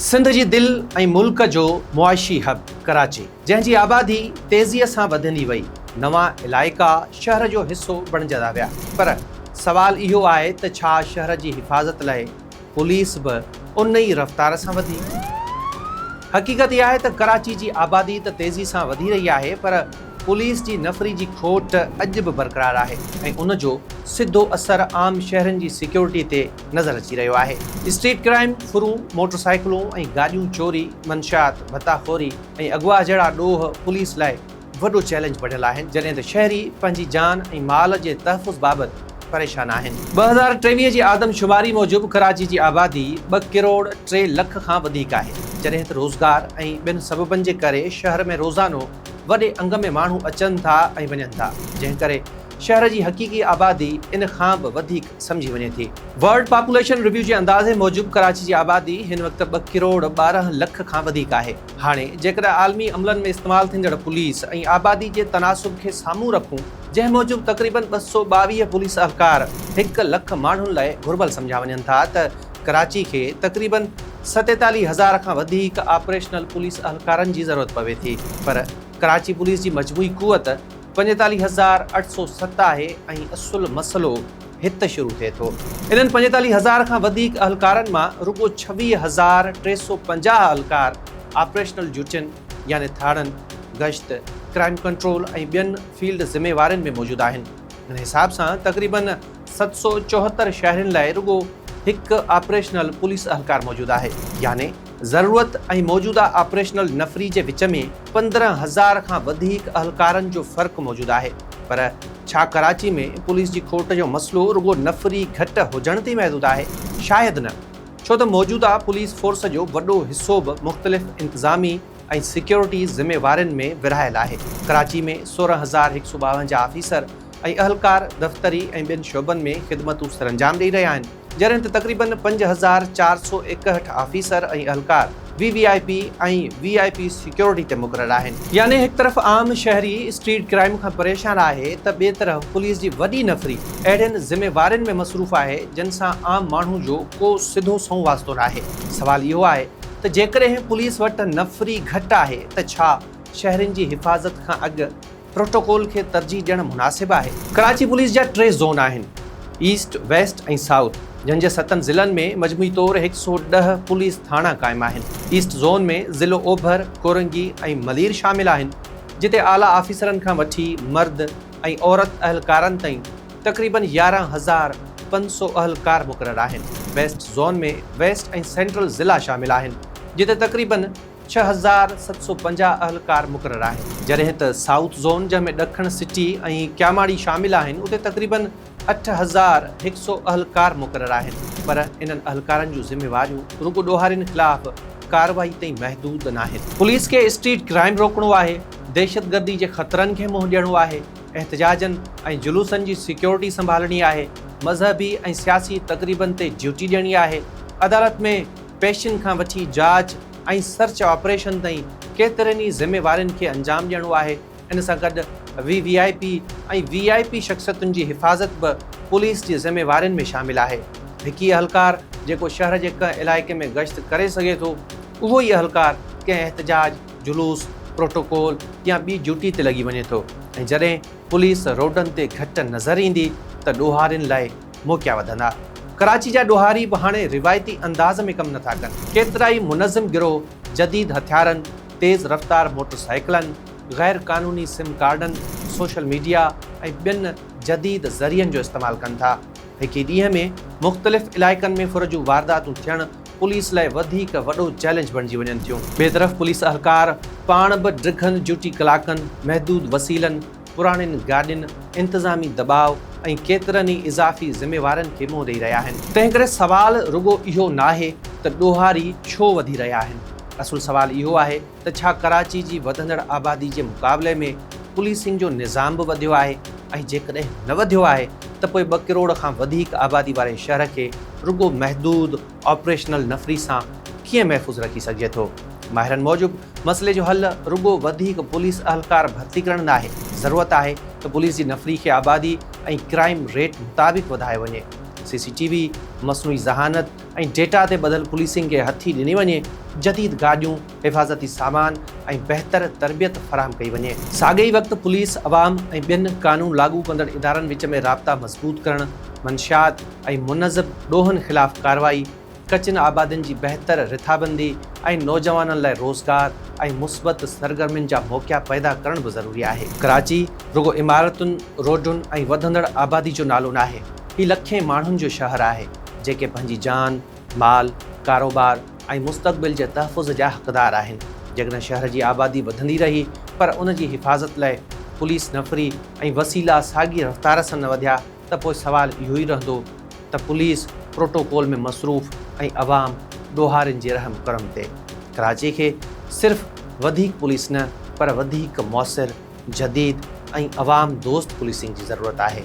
سنڌ جي دل ۽ ملڪ جو معاشي حب ڪراچي جنهن جي آبادي تيزي سان وڌندي وئي نوان علائقا شهر جو حصو بڻجندا ويا پر سوال اهو آهي ته ڇا شهر جي حفاظت لاء پوليس به ان ئي رفتار سان وڌي؟ حقيقت اها آهي ته ڪراچي جي آبادي ته تيزي سان وڌي رهي آهي پر پوليس جي نفري جي کوٽ اڄ به برقرار آهي ۽ ان جو سڌو اثر عام شهرين جي سيڪيورٽي تي نظر اچي رهيو آهي. اسٽريٽ ڪرائيم، ڦرون، موٽر سائيڪلون ۽ گاڏيون چوري، منشيات، ڀتا خوري ۽ اغوا جهڙا ڏوهه پوليس لاء وڏو چئلينج بڻيل آهن، جڏهن ته شهري پنهنجي جان ۽ مال جي تحفظ بابت پريشان آهن. ٻه هزار ٽيويهه جي آدمشماري موجب ڪراچي جي آبادي ٻه ڪروڙ ٽي لک کان وڌيڪ آهي، جڏهن ته روزگار ۽ ٻين سببن جي ڪري شهر ۾ روزانو وڏي انگ ۾ ماڻهو اچن ٿا ۽ وڃن ٿا، جنهن ڪري شهر جي حقيقي آبادي ان کان به وڌيڪ سمجهي وڃي ٿي. ورلڊ پاپوليشن ريويو جي اندازي موجب ڪراچي جي آبادي هن وقت ٻه ڪروڙ ٻارهن لک کان وڌيڪ آهي. هاڻي جيڪڏهن عالمي عملن ۾ استعمال ٿيندڙ پوليس ۽ آبادي جي تناسب کي سامهون رکون، جنهن موجب تقريبن ٻه سؤ ٻاويهه پوليس اهلڪار هڪ لک ماڻهن لاء گهربل سمجهيا وڃن ٿا ته ڪراچي کي تقريبن ستيتاليهه هزار کان وڌيڪ آپريشنل پوليس اهلڪارن جي ضرورت پوي ٿي پر ڪراچي پوليس جي مجموعي قوت پنجيتاليهه هزار اٺ سؤ ست آهي ۽ اصل مسئلو هت شروع ٿئي ٿو. انهن پنجيتاليهه هزار کان وڌيڪ اهلڪارن مان رڳو ڇويهه هزار ٽي سؤ پنجاهه اهلڪار آپريشنل ڊيوٽين يعني ٿاڻن، گشت، ڪرائيم ڪنٽرول ۽ ٻين فيلڊ ذميوارين ۾ موجود آهن. ان حساب سان تقريباً ست سؤ چوهتر شهرين لاء رڳو هڪ آپريشنل پوليس اهلڪار موجود آهي يعني. ضرورت ۽ موجوده آپريشنل نفري جي وچ ۾ پندرهن هزار کان وڌيڪ اهلڪارن جو فرق موجود آهي پر ڇا ڪراچي ۾ پوليس جي کوٽ جو مسئلو رڳو نفري گهٽ هجڻ تي محدود آهي؟ شايد نه ڇو ته موجوده پوليس فورس جو وڏو حصو به مختلف انتظامي ۽ سيڪيورٽي ذميوارين ۾ ورهايل آهي. ڪراچي ۾ سورهن هزار هڪ سؤ ٻاونجاهه آفيسر ۽ اهلڪار دفتري ۽ ٻين شعبن ۾ خدمتون سرانجام ڏئي رهيا آهن. جڏهن ته تقريبن پنج هزار چار سؤ ايڪهٺ آفيسر ۽ اهلڪار V V I P ۽ V I P security تي مقرر آهن. يعني هڪ طرف عام شهري اسٽريٽ ڪرائيم کان پريشان آهي ته ٻئي طرف پوليس جي وڏي نفري اهڙين ذميوارين ۾ مصروف آهي جن سان عام ماڻهو جو ڪو سڌو سنئون واسطو ناهي. سوال اهو آهي ته جيڪڏهن پوليس وٽ نفري گهٽ آهي ته ڇا شهرين جي حفاظت کان اڳ پروٽوڪول کي ترجيح ڏيڻ مناسب آهي. ڪراچي پوليس جا ٽي زون آهن، ايسٽ، ويسٽ ۽ سائوٿ، جن جي ستن ضلعن ۾ مجموعي طور هڪ سؤ ڏهه پوليس ٿاڻا قائم آهن. ايسٽ زون ۾ ضلعو اوڀر، ڪورنگي ۽ ملير شامل آهن، جتي اعليٰ آفيسرن کان وٺي مرد ۽ عورت اهلڪارن تائين تقريبن يارهن هزار پنج سؤ اهلڪار مقرر آهن. ويسٽ زون ۾ ويسٽ ۽ سينٽرل ضلعا شامل آهن، جتي تقريبن. ڇهه هزار ست سؤ پنجاهه اهلڪار مقرر آهن، جڏهن ته سائوٿ زون جنهن ۾ ڏکڻ سٽي ۽ ڪياماڙي شامل آهن اتي تقريباً اٺ هزار هڪ سؤ اهلڪار مقرر آهن پر انهن اهلڪارن جون ذميواريون رڳو ڏوهارين خلاف ڪارروائي تائين محدود ناهن. پوليس کي اسٽريٽ ڪرائم روڪڻو آهي، دهشتگردي جي خطرن کي منهن ڏيڻو آهي، احتجاجن ۽ جلوسن جي سيڪيورٽي سنڀالڻي آهي، مذهبي ۽ سياسي تقريبن تي ڊيوٽي ڏيڻي آهي، عدالت ۾ پيشن کان وٺي جاچ ۽ سرچ آپريشن تائين ڪيترين ئي ذميوارين کي انجام ڏيڻو آهي، ان سان گڏ V V I P ۽ V I P شخصيتن جي حفاظت به پوليس جي ذميوارين ۾ شامل آهي، هڪ ئي اهلڪار جيڪو شهر جي ڪنهن علائقي ۾ گشت ڪري سگهي ٿو، اهو ئي اهلڪار ڪنهن احتجاج، جلوس، پروٽوڪول يا ٻي ڊيوٽي تي لڳي وڃي ٿو ۽ جڏهن پوليس روڊن تي گهٽ نظر ايندي ته ڏوهارين لاء موقعا وڌندا. ڪراچي جا ڏوهاري به هاڻي روايتي انداز ۾ ڪم نٿا ڪن. ڪيترائي منظم گروهه جديد هٿيارن، تيز رفتار موٽر سائيڪلن، غير قانوني سم ڪارڊن، سوشل ميڊيا ۽ ٻين جديد ذريعن جو استعمال ڪن ٿا. هڪ ئي ڏينهن ۾ مختلف علائقن ۾ ڦر جون وارداتون ٿيڻ پوليس لاء وڌيڪ وڏو چئلينج بڻجي وڃن ٿيون. ٻئي طرف پوليس اهلڪار پاڻ به ڊگهن ڊيوٽي ڪلاڪن، محدود وسيلن، پراڻين گاڏين انتظامي دٻاء ۽ ڪيترن ئي اضافي ذميوارين کي منهن ڏئي رهيا آهن. تنهنڪري سوال رڳو اهو ناهي ته ڏوهاري ڇو وڌي رهيا آهن، اصل سوال اهو آهي ته ڇا ڪراچي جي وڌندڙ آبادي جي مقابلي ۾ پوليسنگ جو نظام به وڌيو آهي ۽ جيڪڏهن نه وڌيو آهي ته پوء ٻه ڪروڙ کان وڌيڪ آبادي واري شهر کي رڳو محدود آپريشنل نفري سان ڪيئن محفوظ رکي سگهجي ٿو؟ ماهرن موجب مسئلي جو حل رڳو وڌيڪ پوليس اهلڪار ڀرتي ڪرڻ ناهي، ضرورت آهي ته پوليس جي نفري کي آبادي ۽ ڪرائيم ريٽ مطابق وڌايو وڃي، سي سي ٽي وي، مصنوعي ذهانت ۽ ڊيٽا تي ٻڌل پوليسنگ کي هٿي ڏني وڃي، جديد گاڏيون، حفاظتي سامان ۽ بهتر تربيت فراهم ڪئي وڃي. ساڳئي وقت پوليس، عوام ۽ ٻين قانون لاڳو ڪندڙ ادارن وچ ۾ رابطا مضبوط ڪرڻ، منشيات، ۽ منظم ڏوهن خلاف ڪارروائي، ڪچين آبادين جي بهتر رٿابندي ۽ نوجوانن لاء روزگار ۽ مثبت سرگرمين جا موقعا پيدا ڪرڻ به ضروري آهي. ڪراچي رڳو عمارتن، روڊن ۽ وڌندڙ آبادي جو نالو ناهي، هي لکين ماڻهن جو شهر آهي، جيڪي پنهنجي جان، مال، ڪاروبار ۽ مستقبل جي تحفظ جا حقدار آهن، جيڪڏهن شهر جي آبادي وڌندي رهي پر ان جي حفاظت لاء پوليس نفري ۽ وسيلا ساڳي رفتار سان نه وڌيا ته پوء سوال اهو ئي رهندو ته پوليس پروٽوڪول ۾ مصروف ۽ عوام ڏوهارين جي رحم ڪرم تي ڪراچي کي صرف وڌيڪ پوليس نه پر وڌيڪ موثر، جديد ۽ عوام دوست پوليسنگ جي ضرورت آهي.